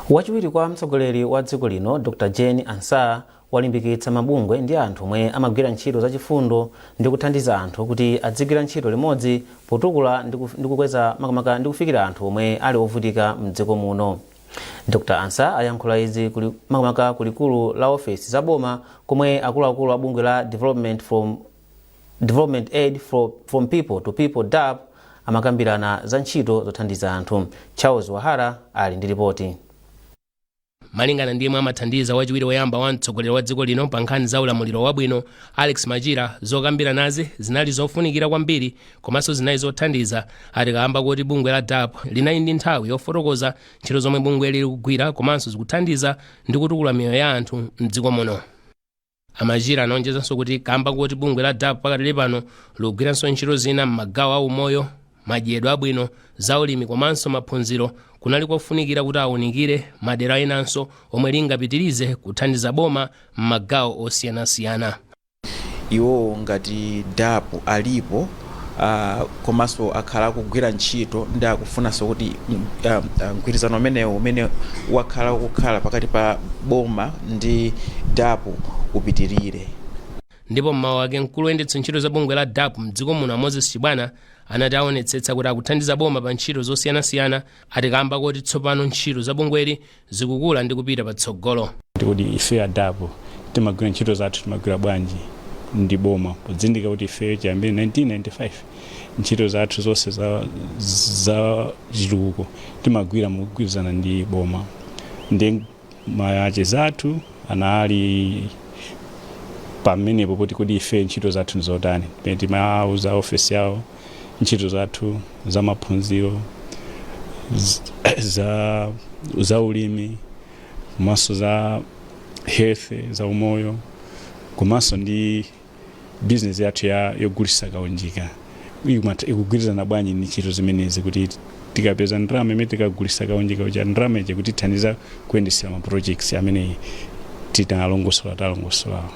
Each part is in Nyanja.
wachiwiri kwa mtsogoleri wa dziko lino dr jane ansah walimbikitsa mabungwe ndi anthu omwe amagwira ntchito zachifundo ndi kuthandiza anthu kuti adzigwira ntchito limodzi potukula ndi kuf- ndi kukweza makamaka ndi kufikira anthu omwe ali ovutika mdziko muno dr ansah ayankhula izi kuli- makamaka ku likulu la ofesi za boma komwe akuluakulu a bungwe la development from Development Aid fro from People to People DAPP amakambirana za ntchito zothandiza anthu. Charles Wahara ali ndi ripoti. malingana ndi yemwe amathandiza wachiwiri woyamba wa mtsogoleri wa dziko lino pa nkhani za ulamuliro wabwino alex machira zokambiranazi zinali zofunikira kwambiri komanso zinali zothandiza ati kaamba kuti bungwe la dapp linali ndi nthawi yofotokoza ntchito zomwe bungweli likugwira komanso zikuthandiza ndi kutukula miyoyo ya anthu mdziko muno a machira anaonjezanso kuti kamba koti bungwe la dapp pakadali pano likugwiranso ntchito zina m'magawo a umoyo madyedwe abwino za ulimi komanso maphunziro kunali kofunikira kuti awunikire madera enanso omwe lingapitirize kuthandiza boma m'magawo osiyanasiyana iwowo ngati dapp alipo uh, komanso akhala akugwira ntchito ndi akufunanso kuti mm, um, uh, mgwirizano umenewu umene wakhala kukhala pakati pa boma ndi dapp upitirire ndipo mmawu ake mkulu woyendetsa ntchito za bungwe la dapp mdziko muno moses chibwana anati aonetsetsa kuti akuthandiza boma pa ntchito zosiyanasiyana ati kamba koti tsopano ntchito za bungweli zikukula ndi kupita patsogolo. ndi kodi ifeyo a dapp timagwira ntchito zathu timagwira bwanji ndi boma pozindikira kuti ifeyo chiyambire 1995 ntchito zathu zonse za, za chitukuko timagwira mogwirizana ndi boma ndiye macheza athu anali pamenepo kuti kodi ife ntchito zathu ndizotani pamene timawauza ofesi yawo ntchito zathu za maphunziro za za ulimi komanso za health za umoyo komanso ndi business yathu ya yogulisa kaunjika Ikumata- ikugwirizana bwanji ndi ntchito zimenezi kuti tikapeza ndalama imene tikagulisa kaunjika uja ndalama ija kuti ithandiza kuyendesera ma projects amene tinalongosola talongosolawo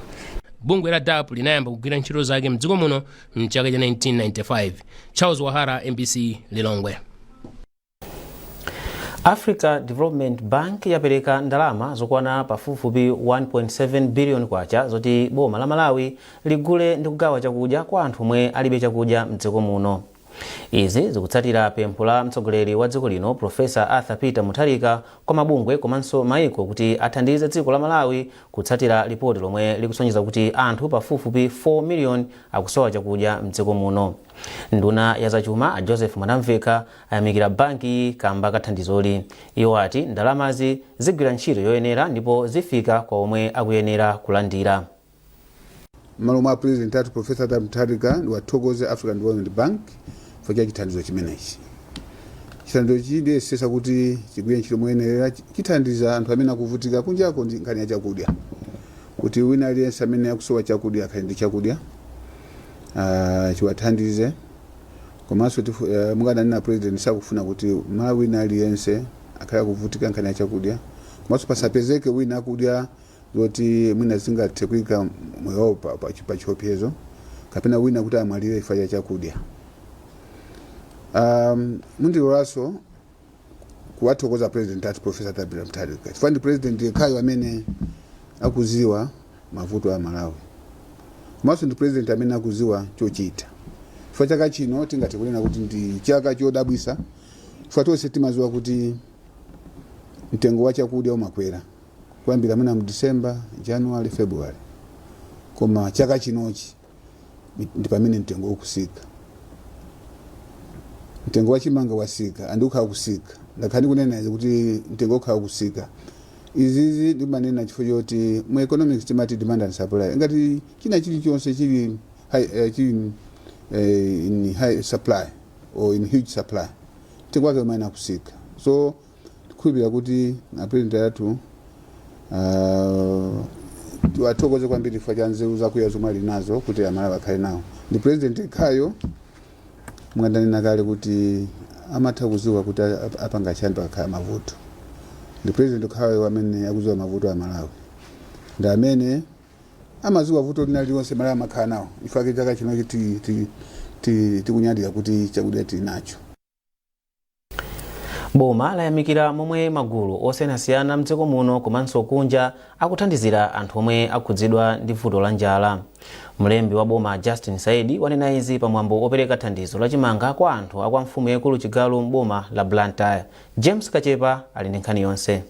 bungwe la dapp linayamba kugwira ntchito zake mdziko muno mchaka cha 1995 charles wahara mbc lilongwe africa development bank yapereka ndalama zokwana pafupifupi 1.7 billion kwacha zoti boma la malawi ligule ndi kugawa chakudya kwa anthu omwe alibe chakudya mdziko muno izi zikutsatira pempho la mtsogoleri wa dziko lino profesa arthur peter mutharika kwa mabungwe komanso maiko kuti athandize dziko la malawi kutsatira lipoti lomwe likusonyeza kuti anthu pafupifupi 4 miliyoni akusowa chakudya m'dziko muno. Nduna ya zachuma a Joseph Mwanamvekha ayamikira bankiyi kamba ka thandizoli. Iwo ati ndalamazi zigwira ntchito yoyenera ndipo zifika kwa omwe akuyenera kulandira. M'malo mwa a President athu Prof. Arthur Mutharika ndiwathokoze African Development Bank chifukwa cha chithandizo chimenechi. Chithandizochi tiyesesa kuti chigwire ntchito moyenerera chi- chithandiza anthu amene akuvutika kunjako ndi nkhani ya chakudya kuti wina aliyense amene akusowa chakudya akhale ndi chakudya ah, chiwathandize komanso tifu- eh, monga ananena a president sakufuna kuti Mmalawi wina aliyense akhale akuvutika nkhani ya chakudya komanso pasapezeke wina akudya zoti mwina zingathe kuika moyo wawo pa- pa- pa chiopsezo kapena wina kuti amwalire chifukwa cha chakudya um, mundilolanso kuwathokoza a president athu profesa Arthur Mutharika chifukwa ndi president yekhayo amene akuziwa mavuto a malawi komanso ndi president amene akuziwa chochita chifukwa chaka chino tingathe kunena kuti ndi chaka chodabwisa chifukwa tonse timaziwa kuti mtengo wa chakudya umakwera kuyambira mwina mu December, January, February koma chaka chinochi ndi pamene mtengo ukusika mtengo wa chimanga wasika andi ukhala kusika ndakhala ndikunena izi kuti mtengo ukhala kusika izizi ndimanena chifukwa choti mu economics timati demand and supply ngati china chilichonse chili high, eh, chili eh, in high supply or in huge supply mtengo wake umayenera kusika so Tikhulupirira kuti apulezidenti athu ah, tiwathokoze kwambiri chifukwa cha nzeru zakuya zomwe ali nazo kuti amalawi akhale nawo ndi pulezidenti yekhayo monga ndanena kale kuti amatha kuziwa kuti ap- apanga chani pakakhala mavuto ndi pulezidenti yekhayo amene akuziwa mavuto a malawi ndi amene amaziwa vuto lina lililonse malawi amakhala nawo chifukwa chake chaka chino ti- ti- ti- tikunyadira kuti chakudya tili nacho boma layamikira momwe magulu osiyanasiyana mdziko muno komanso kunja akuthandizira anthu omwe akhudzidwa ndi vuto la njala mlembi wa boma justin saidi wanena izi pamwambo opereka thandizo la chimanga kwa anthu akwa mfumu yaikulu chigalu m'boma la blantyre james kachepa ali ndi nkhani yonse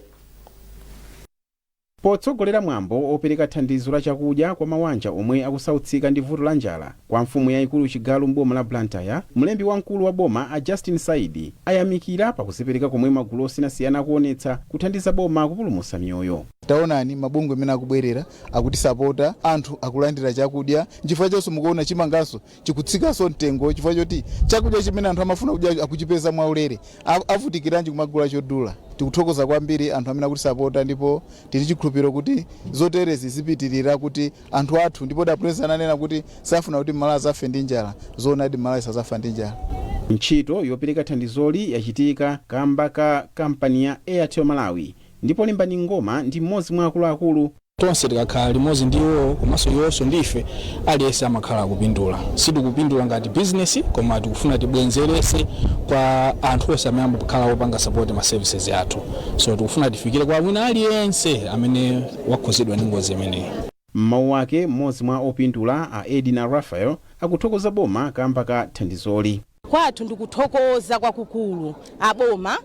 Potsogolera mwambo opereka thandizo la chakudya kwa mawanja omwe akusautsika ndi vuto la njala kwa mfumu yaikulu Chigalu m'boma la Blantyre, mlembi wamkulu wa boma a Justin Saidi ayamikira pa kuzipereka komwe magulu osiyanasiyana akuonetsa kuthandiza boma kupulumusa miyoyo. Taonani mabungwe mmene akubwerera akutisapota, anthu akulandira chakudya, nchifukwa chonso mukuona chimanganso chikutsikanso mtengo chifukwa choti chakudya chimene anthu amafuna kudya akuchipeza mwaulere. A- Avutikiranji kumagula chodula? Tikuthokoza kwambiri anthu amene akutisapota ndipo tili chikhulupiriro kuti zoterezi zipitirira kuti anthu athu ndipo a president ananena kuti safuna kuti Malawi azafe ndi njala. Zoonadi Malawi sazafa ndi njala. Ntchito yopereka thandizoli yachitika kamba ka kampani ya Airtel Malawi ndipo Limbani Ngoma ndi mmodzi mwa akuluakulu Tonse tikakhala limodzi ndi iwowo komanso iwonso ndi ife, aliyense amakhala akupindula. Sitikupindula ngati bizinesi koma tikufuna tibwenzerese kwa anthu onse amene amakhala opanga support ma services athu. So tikufuna tifikire kwa wina aliyense amene wakhuzidwa ndi ngozi imeneyi. M'mawu ake, m'modzi mwa opindula, a Edina Raphael, akuthokoza boma kamba ka thandizoli. Kwathu ndikuthokoza kwakukulu aboma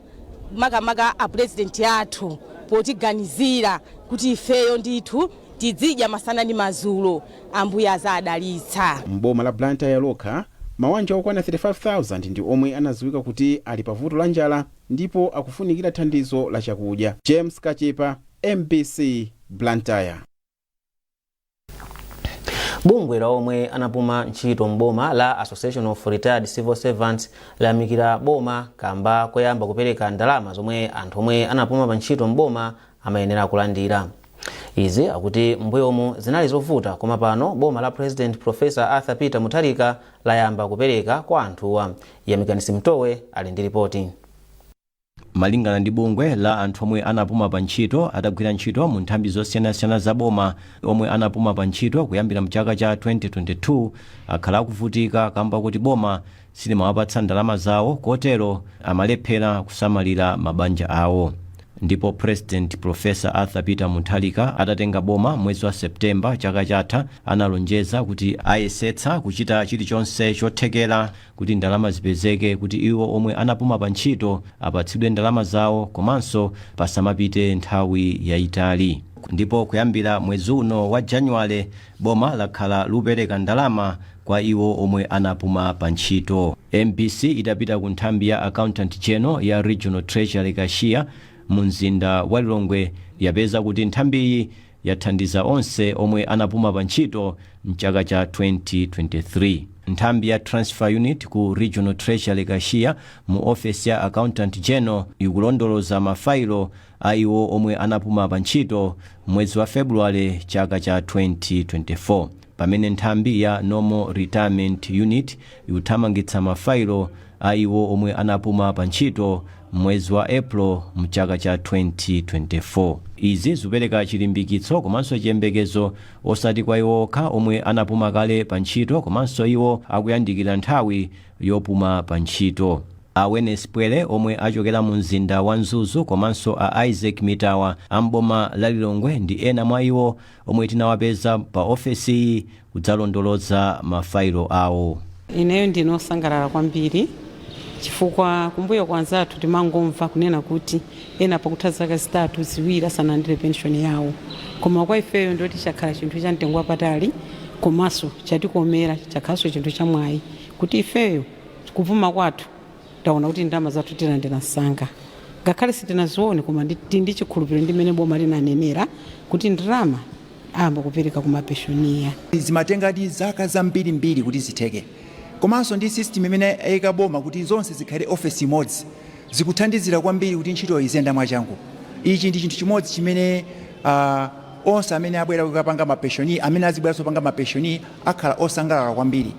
makamaka apulezidenti athu potiganizira kuti ifeyo ndithu tidzidya masana ndi mazulo Ambuye azawadalitsa. M'boma la Blantyre lokha, mawanja okwana 35,000 ndi omwe anadziwika kuti ali pa vuto la njala ndipo akufunikira thandizo la chakudya. James Kachepa, mbc, Blantyre. bungwe la omwe anapuma ntchito m'boma la association of retired civil servants layamikira boma kamba koyamba kupereka ndalama zomwe anthu omwe anapuma pa ntchito m'boma amayenera kulandira izi akuti mbuyomu zinali zovuta koma pano boma la president professor arthur peter mutharika layamba kupereka kwa anthuwa yamikani simutowe ali ndi ripoti Malingana ndi bungwe la anthu omwe anapuma pa ntchito atagwira ntchito mu nthambi zosiyanasiyana za boma, omwe anapuma pa ntchito kuyambira mchaka cha 2022 akhala akuvutika kamba koti boma silimawapatsa ndalama zawo kotero amalephera kusamalira mabanja awo. Ndipo President Prof. Arthur Peter Mutharika atatenga boma mwezi wa September chaka chatha analonjeza kuti ayesetsa kuchita chilichonse chothekera kuti ndalama zipezeke kuti iwo omwe anapuma pa ntchito apatsidwe ndalama zawo komanso pasamapite nthawi yayitali. Ndipo kuyambira mwezi uno wa January, boma lakhala lupereka ndalama kwa iwo omwe anapuma pa ntchito. Mbc itapita ku nthambi ya Accountant General ya Regional Treasury Cashier mu mzinda wa Lilongwe yapeza kuti nthambiyi yathandiza onse omwe anapuma pa ntchito m'chaka cha 2023. Nthambi ya Transfer Unit ku Regional Treasury Cashier mu ofesi ya Accountant General ikulondoloza ma failo a iwo omwe anapuma pa ntchito m'mwezi wa February chaka cha 2024. Pamene nthambi ya Normal Retirement Unit ikuthamangitsa mafailo a iwo omwe anapuma pa ntchito m'mwezi wa April mchaka cha 2024. Izi zikupereka chilimbikitso komanso chiyembekezo osati kwa iwo okha omwe anapuma kale pa ntchito komanso iwo akuyandikira nthawi yopuma pa ntchito. A Wene Sipwele omwe achokera mu mzinda wa Mzuzu komanso a Isaac Mitawa a m'boma la Lilongwe ndi ena mwa iwo omwe tinawapeza pa ofesiyi kudzalondoloza mafailo awo. Ineyo ndine osangalala kwambiri chifukwa kumbuyo kwa anzathu timangomva kunena kuti ena pakutha zaka zitatu ziwiri asanandire pension yawo koma kwa ifeyo ndoti chakhala chinthu cha mtengo wapatali komanso chatikomera chakhalanso chinthu chamwayi kuti ifeyo kupuma kwathu taona kuti ndalama zathu tilandira msanga ngakhale sitinazione koma tili ndi chikhulupiriro ndi mmene boma linanenera kuti ndalama ayamba kupereka koma poyamba zimatengadi zaka zambirimbiri kuti zitheke komanso ndi system imene ayika boma kuti zonse zikhale ofesi imodzi zikuthandizira kwambiri kuti ntchito iziyenda mwachangu ichi ndi chinthu chimodzi chimene ah, onse amene abwera kukapanga mapeshoni amene azibweranso kupanga mapeshoni akhala osangalala kwambiri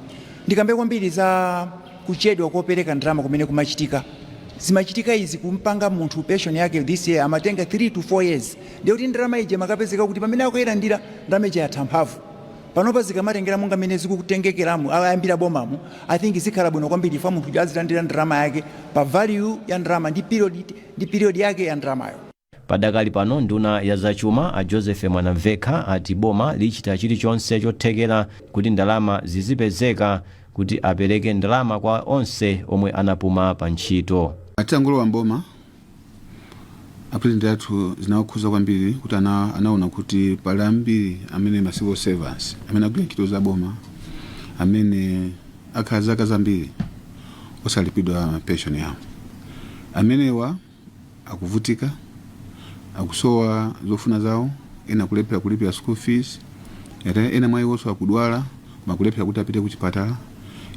ndikambe kwambiri za kuchedwa kopereka ndalama kumene kumachitika zimachitika izi kumpanga munthu pension yake this year amatenga 3 to 4 years ndiye kuti ndalama ija imakapezeka kuti pamene akuyilandira ndalama ija yatha mphamvu panopa zikamatengera monga mmene zikutengekeramu ayambira bomamu i think zikhala bwino kwambiri fa munthu uja azilandira ndalama yake pa value ya ndalama ndi period ndi period yake ya ndalamayo Padakali pano nduna ya zachuma a Joseph Mwanamvekha ati boma lichita chilichonse chothekera kuti ndalama zizipezeka kuti apereke ndalama kwa onse omwe anapuma pa ntchito. Atangolowa m'boma, a president athu zinawakhuza kwambiri kuti ana, anaona kuti pali ambiri amene ma civil servants amene agwira ntchito za boma amene akhala zaka zambiri osalipidwa pension yawo amenewa akuvutika, akusowa zofuna zawo, ena akulephera kulipira school fees, ete- ena mwa iwonso akudwala koma akulephera kuti apite ku chipatala,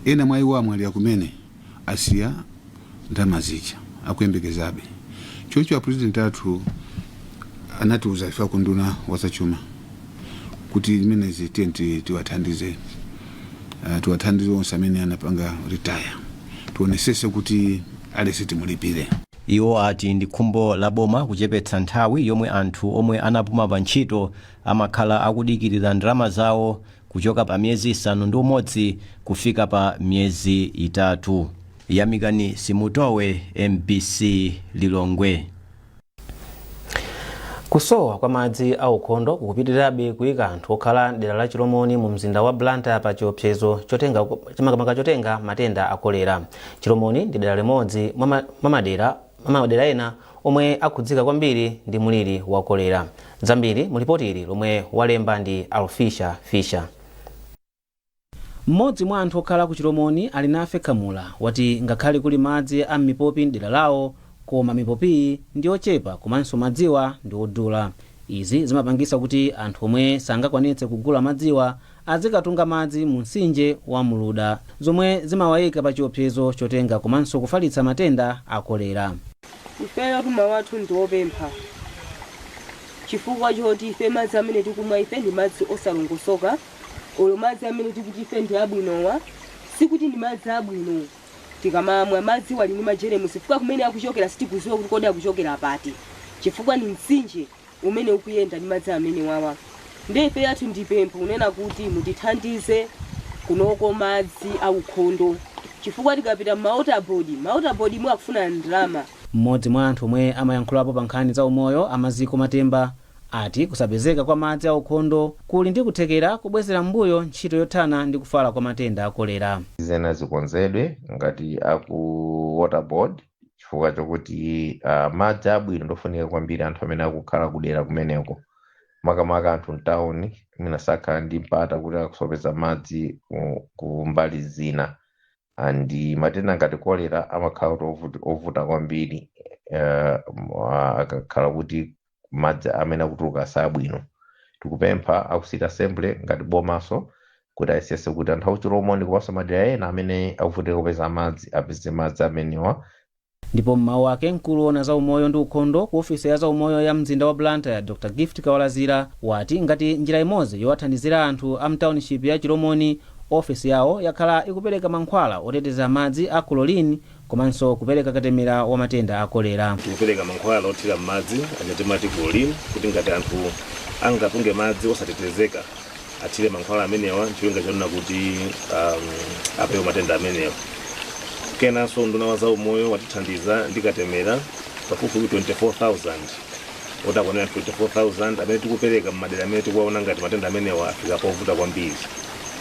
ena mwa iwo amwalira kumene asiya ndalama zija akuyembekezabe. Choncho apulezidenti athu anatiuza ife a ku unduna wa zachuma kuti zimenezi tiye tiwathandize, uh, tiwathandize onse amene anapanga retire. tionetsetse kuti aliyense timulipire. Iwo ati ndi khumbo la boma kuchepetsa nthawi yomwe anthu omwe anapuma pa ntchito amakhala akudikirira ndalama zawo kuchoka pa miyezi isanu ndi umodzi kufika pa miyezi itatu. Yamikani Simutowe, MBC Lilongwe. kusowa kwa madzi aukhondo kukupitirirabe kuyika anthu okhala mdera la chilomoni mu mzinda wa blantyre pa chiopsezo chotenga makamaka chotenga matenda a kolera chilomoni ndi dera limodzi mwa ma- mwa madera mwa madera ena omwe akhudzika kwambiri ndi muliri wa kolera zambiri mu lipoti ili lomwe walemba ndi alfisha fisha Mmodzi mwa anthu okhala ku Chilomoni, Alinafe Kamula, wati ngakhale kuli madzi a m'mipopi m'dera lawo koma mipopiyi ndi yochepa komanso madziwa ndi odula. Izi zimapangisa kuti anthu omwe sangakwanitse kugula madziwa azikatunga madzi mu msinje wa Muluda zomwe zimawaika pa chiopsezo chotenga komanso kufalitsa matenda a kolera. Ifeyo mawu athu ndi opempha chifukwa choti ife madzi amene tikumwa ife ndi madzi osalongosoka. olo madzi amene tikuti ife ndi abwinowa sikuti ndi madzi abwino tikamamwa madziwa ali ndi majeremusi chifukwa kumene akuchokera sitikuziwa kuti kodi akuchokera pati chifukwa ndi mtsinje umene ukuyenda ndi madzi amenewawa nde ife lathu ndipempho kunena kuti mutithandize kunoko madzi aukhondo chifukwa tikapita mma water board ma water board mwe akufuna ndalama Mmodzi mwa anthu omwe amayankhulapo pa nkhani za umoyo a Maziko Matemba wati kusapezeka kwa madzi aukhondo kuli ndi kuthekera kobwezera m'mbuyo ntchito yothana ndi kufala kwa matenda a kolera. zina zikonzedwe ngati aku water board chifukwa chokuti uh, madzi abwino ndofunika kwambiri anthu amene akukhala kudera kumeneko makamaka anthu mtawuni mwina sakhala ndi mpata kuti akasapeza madzi ku- ku mbali zina and matenda ngati kolera amakhala kuti ovuti- ovuta kwambiri uh, akakhala kuti madzi amene akutuluka sabwino tikupempha aku city assembly ngati bomaso kuti ayesese kuti anthu akuchilomoni komanso madera ena amene akuvutika kupeza madzi apeze madzi amenewa ndipo m'mawu ake mkulu woona za umoyo ndi ukhondo ku ofesi ya za umoyo ya mzinda wa blantyre dr gift kawalazira wati ngati njira imodzi yowathandizira anthu a mtaunishipi ya chilomoni ofesi yawo yakhala ikupereka mankhwala oteteza madzi a chlorine komanso kupereka katemera wa matenda a kolera. Tikupereka mankhwala othira m'madzi aja timati chlorine kuti ngati anthu angatunge madzi osatetezeka athire mankhwala amenewa ncholinga chonena kuti um, apewe matenda amenewa. Kenanso unduna wa zaumoyo watithandiza ndi katemera pafupifupi 24,000 okwanira 24,000 amene tikupereka m'madera amene tikuwaona ngati matenda amenewa afika povuta kwambiri.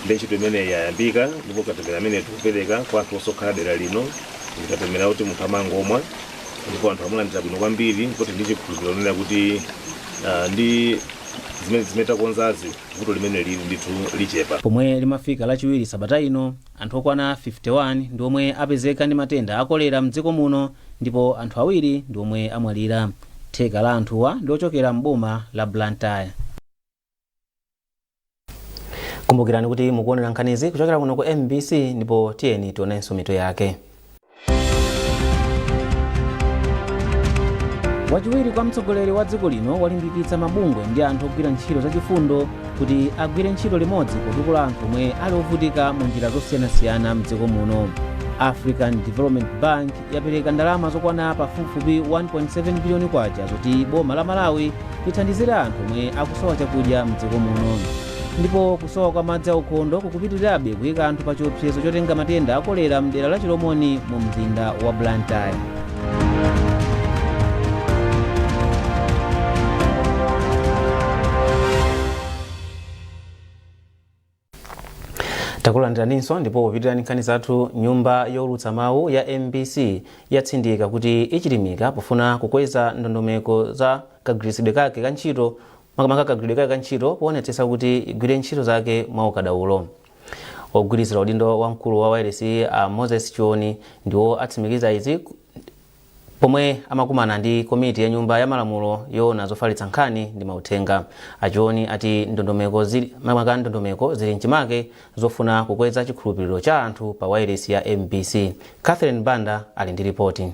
Nde ntchito imeneyi yayambika ndipo katemera amene tikupereka kwa anthu onse okhala dera lino ndi katemera oti munthu amangomwa ndipo anthu amulandira bwino kwambiri ndipo tili ndi chikhulupiriro kunena kuti ah, ndi zimenezi zimene takonzazi vuto limene lili ndithu lichepa Pomwe limafika lachiwiri sabata ino, anthu okwana 51 ndi omwe apezeka ndi matenda a kolera mdziko muno ndipo anthu awiri ndi omwe amwalira. Theka la anthuwa ndi ochokera m'boma la Blantyre. kumbukirani kuti mukuonera nkhanizi kuchokera kuno ku mbc ndipo tiyeni tionenso mitu yake wachiwiri kwa mtsogoleri wa dziko lino walimbikitsa mabungwe ndi anthu ogwira ntchito zachifundo kuti agwire ntchito limodzi potukula anthu omwe ali ovutika mu njira zosiyanasiyana mdziko muno african development bank yapereka ndalama zokwana pafupifupi 1.7 biliyoni kwacha zoti boma la malawi lithandizire anthu omwe akusowa chakudya mdziko muno ndipo kusowa kwa madzi aukhondo kukupitirirabe kuyika anthu pa chiopsezo chotenga matenda akolera mdera la chilomoni mu mzinda wa blantyre takulandiraninso ndipo popitiriza nkhani zathu nyumba yowulutsa mawu ya mbc yatsindika kuti ichilimika pofuna kukweza ndondomeko za kagwiritsidwe kake ka ntchito makamaka kagwiridwe kake ka ntchito poonetsetsa kuti igwire ntchito zake mwa ukadaulo ogwirizira udindo wa mkulu wa wailesi a moses chioni ndiwo atsimikiza izi Pomwe amakumana ndi komiti ya nyumba ya malamulo yoona zofalitsa nkhani ndi mauthenga, a Chioni ati maka ndondomeko zili mchimake zofuna kukweza chikhulupiliro cha anthu pa wailesi ya mbc. Catherine Banda ali ndi lipoti.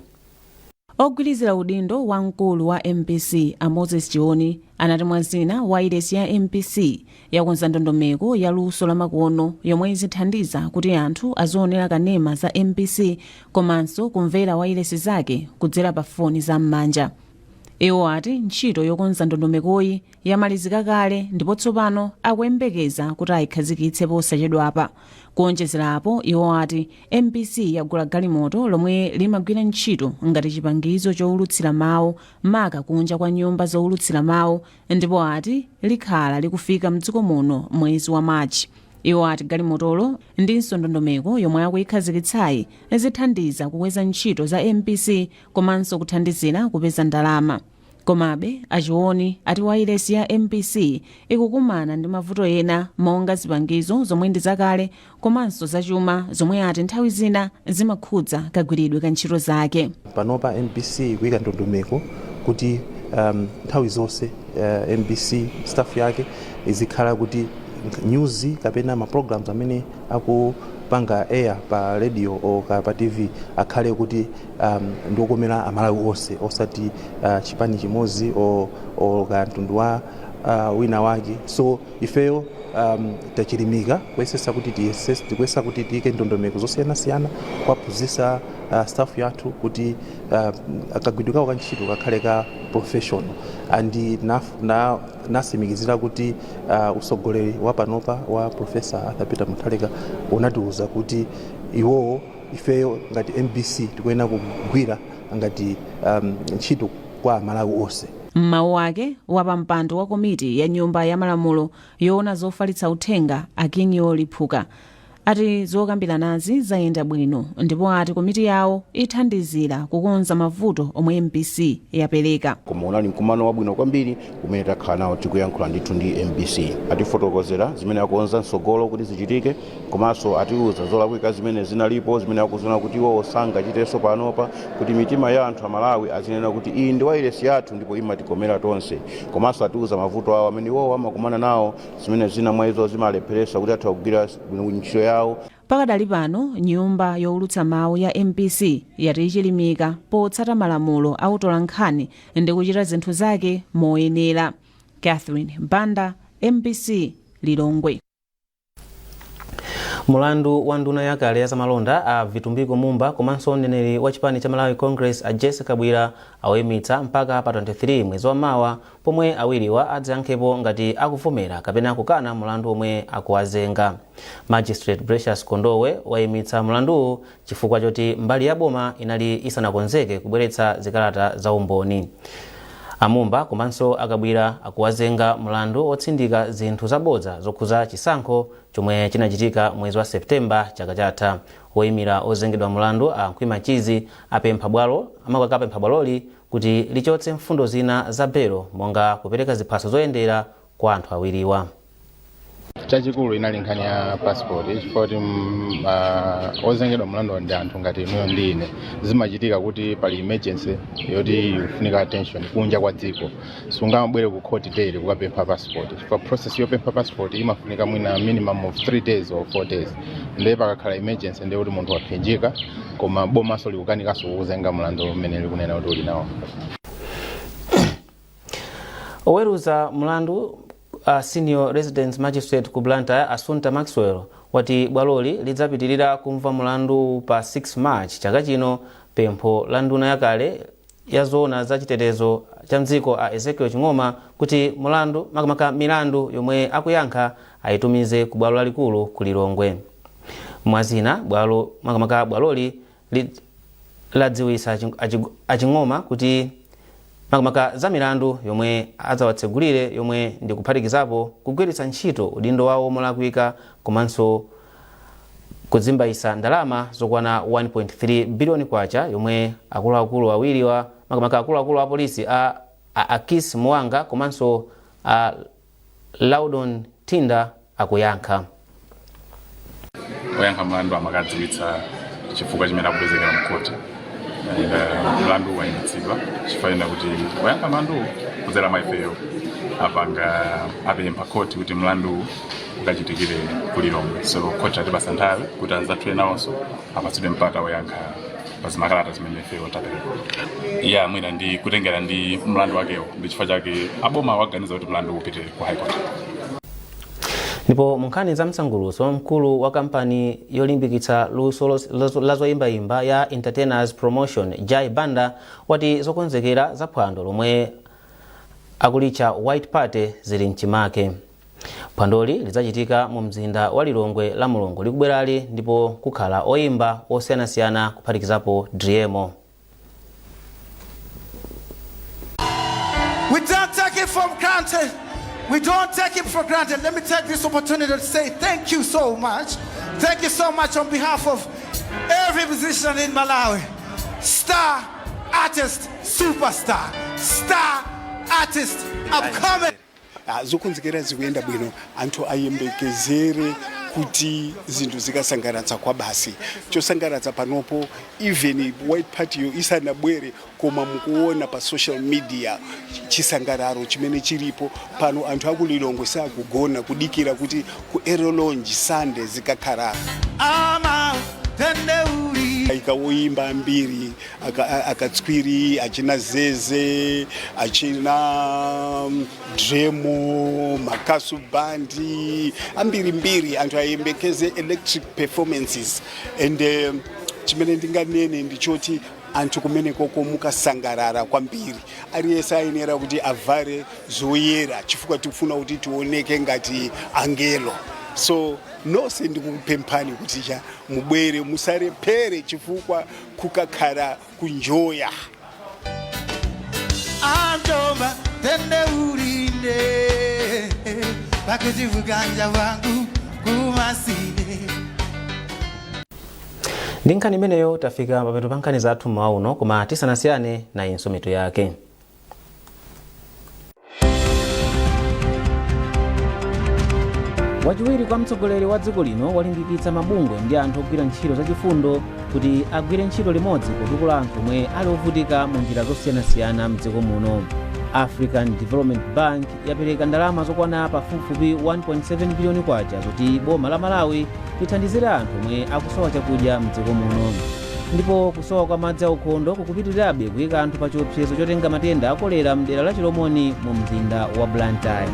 Ogwilizira udindo wa mkulu wa mbc, a Moses Chioni, anati mwa zina, wailesi ya mbc yakonza ndondomeko ya luso lamakono yomwe izithandiza kuti anthu azionera kanema za mbc komanso kumvera wailesi zake kudzera pa foni za m'manja iwo ati ntchito yokonza ndondomekoyi yamalizika kale ndipo tsopano akuyembekeza kuti ayikhazikitse posachedwapa kuonjezerapo iwo ati mbc yagula galimoto lomwe limagwira ntchito ngati chipangizo chowulutsira mawu maka kunja kwa nyumba zowulutsira mawu ndipo ati likhala likufika mdziko muno mwezi wa march iwo ati galimotolo ndinso ndondomeko yomwe akuyikhazikitsayi zithandiza kukweza ntchito za mbc komanso kuthandizira kupeza ndalama komabe a chioni ati wailesi ya mbc ikukumana ndi mavuto ena monga zipangizo zomwe ndi zakale komanso zachuma zomwe ati nthawi zina zimakhudza kagwiridwe ka ntchito zake panopa mbc ikuyika ndondomeko kuti um, nthawi zonse uh, mbc staff yake izikhala kuti news kapena ma programs amene akupanga air pa radio o ka pa tv akhale kuti um, ndiokomera amalawi onse osati uh, chipani chimodzi o, o kapena mtundu wa uh, wina wake so Ifeyo um, tachilimika kuyesesa kuti tiyesesa tikuyesa kuti tiyike ndondomeko zosiyanasiyana kuwaphunzitsa uh, staff yathu kuti uh, kagwiridwe kawo ka ntchito kakhale ka professional and na- na- nasimikizira kuti uh, usogoleri wa panopa wa professor arthur peter mutharika unatiuza kuti iwowo ifeyo ngati mbc tikuyenera kugwira ngati um, ntchito kwa amalawi onse M'mawu ake, wapampando wa komiti ya nyumba ya malamulo yoona zofalitsa uthenga a Kinyo Liphuka ati zokambiranazi zayenda bwino ndipo ati komiti yawo ithandizira kukonza mavuto omwe mbc yapereka. koma unali mkumano wabwino kwambiri umene takhala nawo tikuyankhula ndithu ndi mbc atifotokozera zimene akuona mtsogolo kuti zichitike komanso atiuza zolakwika zimene zinalipo zimene akuziona kuti iwowo sangachitenso panopa kuti mitima ya anthu amalawi azinena kuti iyi ndi wailesi yathu ndipo imatikomera tonse komanso atiuza mavuto awo amene iwowo amakumana nawo zimene zina mwa izo zimalepheresa kuti athe kugwira ntchito yawo pakadali pano nyumba yowulutsa mawu ya mbc yati ichilimika potsata malamulo a utolankhani ndi kuchita zinthu zake moyenera catherine banda mbc lilongwe mulandu wa nduna yakale ya zamalonda a vitumbiko mumba komanso mneneri wa chipani cha malawi congress a jessie kabwila auimitsa mpaka pa 23 mwezi wa mawa pomwe awiriwa adzayankhepo ngati akuvomera kapena kukana mulandu omwe akuwazenga magistrate precious kondowe waimitsa mulanduwu chifukwa choti mbali ya boma inali isanakonzeke kubweretsa zikalata za umboni. A Mumba komanso a Kabwila akuwazenga mlandu otsindika zinthu zabodza zokhuza chisankho chomwe chinachitika mwezi wa September chaka chatha. Oyimira ozengedwa mlandu a Khwima Mchizi apempha bwaloli kuti lichotse mfundo zina za belo monga kupereka ziphaso zoyendera kwa anthu awiriwa. chachikulu inali nkhani ya passport chifukwa kuti mm, ah, ozengedwa mlandu ndi anthu ngati inuyo ndi ine zimachitika kuti pali emergency yoti ikufunika attention kunja kwa dziko sungamabwere ku court daily kukapempha passport chifukwa process yopempha passport imafunika mwina minimum of 3 days or 4 days ndiye pakakhala emergency ndiye kuti munthu waphinjika koma bomanso likukanikanso kukuzenga mlandu umene likunena kuti uli nawo oweruza mlandu a senior resident magistrate ku blantyre assunta maxwell wati bwaloli lidzapitirira kumva mlandu pa 6 march chaka chino pempho la nduna yakale ya zoona za chitetezo cha mdziko a ezekiel ching'oma kuti mlandu makamaka milandu yomwe akuyankha ayitumize ku bwalo lalikulu ku lilongwe mwazina bwalo makamaka bwaloli li, ladziwitsa aching- achig- aching'oma kuti makamaka za milandu yomwe adzawatsegulire yomwe ndi kuphatikizapo kugwiritsa ntchito udindo wawo molakwika komanso kuzimbaitsa ndalama zokwana 1.3 biliyoni kwacha yomwe akuluakulu awiri a makamaka akuluakulu a polisi a, a akis muwanga komanso a Laudon Thinda akuyankha. Oyankha mlandu amakadziwitsa chifukwa chimene akupezekera mkhoti and uh, mlanduwu wayimitsidwa chifukwa chonena kuti oyankha mlanduwo kudzera mwa ifeyo apanga apempha khoti kuti mlanduwu ukachitikire ku Lilongwe so khoti latipatsa nthawi kuti anzathu nawonso apatsidwe mpata oyankha pazimakalata zimene ifeyo tapereka eya mwina ndi kutengera ndi mlandu wakewo ndi chifukwa chake aboma waganiza kuti mlandu upite ku high court ndipo munkhani za msangulutso mkulu wa kampani yolimbikitsa luso los- lazo- la zoyimbayimba ya entertainers promotions jai banda wati zokonzekera za phwando lomwe akulitcha white party zili mchimake Phwandoli lidzachitika mu mzinda wa Lilongwe la Mulungu likubwerali ndipo kukhala oyimba osiyanasiyana kuphatikizapo Driemo. We don't take it for granted. We don't take it for granted. Let me take this opportunity to say thank you so much. Thank you so much on behalf of every musician in Malawi. Star, artist, superstar. Star, artist, upcoming. Ah, zokonzekera zikuyenda bwino anthu ayembekezere kuti zinthu zikasangalatsa kwa basi chosangalatsa panopo even white party yo isanabwere koma mukuona pa social media chisangalalo chimene chilipo pano anthu aku lilongwe sakugona kudikira kuti ku aero lounge sunday zikakhala ama tende uli ayika woyimba ambiri akatswiri achina zeze achina mm, driemo makasu band ambirimbiri anthu ayembekeze electric performances and um, chimene ndinganene ndichoti anthu kumenekoko mukasangalala kwambiri aliyense ayenera kuti avale zoyera chifukwa tikufuna kuti tioneke ngati angelo so nonse ndikupemphani kuti cha mubwere musalephere chifukwa kukakhala kunjoya. Antoma tende urinde Bakujivuganja wangu kumasinde ndi nkhani imeneyo tafika pamapeto pa nkhani zathu mmawa uno koma tisanasiyane nayonso mitu yake wachiwiri kwa mtsogoleri wa dziko lino walimbikitsa mabungwe ndi anthu ogwira ntchito zachifundo kuti agwire ntchito limodzi kutukula anthu omwe ali ovutika mu njira zosiyanasiyana mdziko muno african development bank yapereka ndalama zokwana pafupifupi 1.7 biliyoni kwacha zoti boma la malawi lithandizire anthu omwe akusowa chakudya mdziko muno ndipo kusowa kwa madzi aukhondo kukupitirirabe kuyika anthu pa chiopsezo chotenga matenda a kolera mdera la chilomoni mu mzinda wa blantyre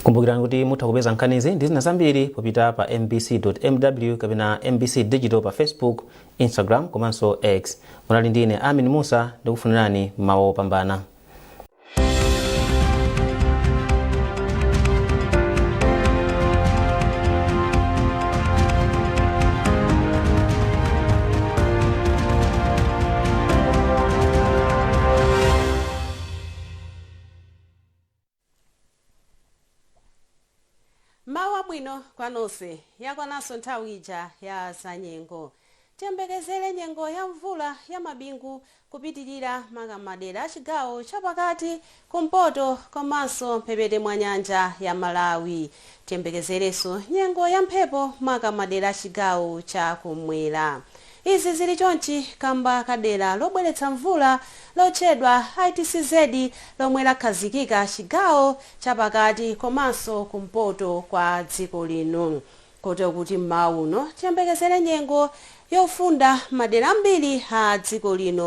kumbukirani kuti mutha kupeza nkhanizi ndi zina zambiri popita pa mbc.mw kapena mbc digital pa facebook instagram komanso x munali ndi ine amin mussa ndikufunirani mmawa opambana M'mawa wabwino kwa nonse. Yakwananso nthawi ija ya zanyengo. Tiyembekezere nyengo ya mvula ya mabingu kupitilira maka m'madera a chigawo cha pakati, kumpoto komanso mphepete mwa nyanja ya Malawi. Tiyembekezerenso nyengo ya mphepo maka m'madera a chigawo cha kum'mwera. Izi zili chonchi kamba ka dera lobweretsa mvula lotchedwa ITCZ lomwe lakhazikika chigawo cha pakati komanso kumpoto kwa dziko lino kotero kuti m'mawa uno tiyembekezere nyengo yofunda m'madera ambiri a dziko lino.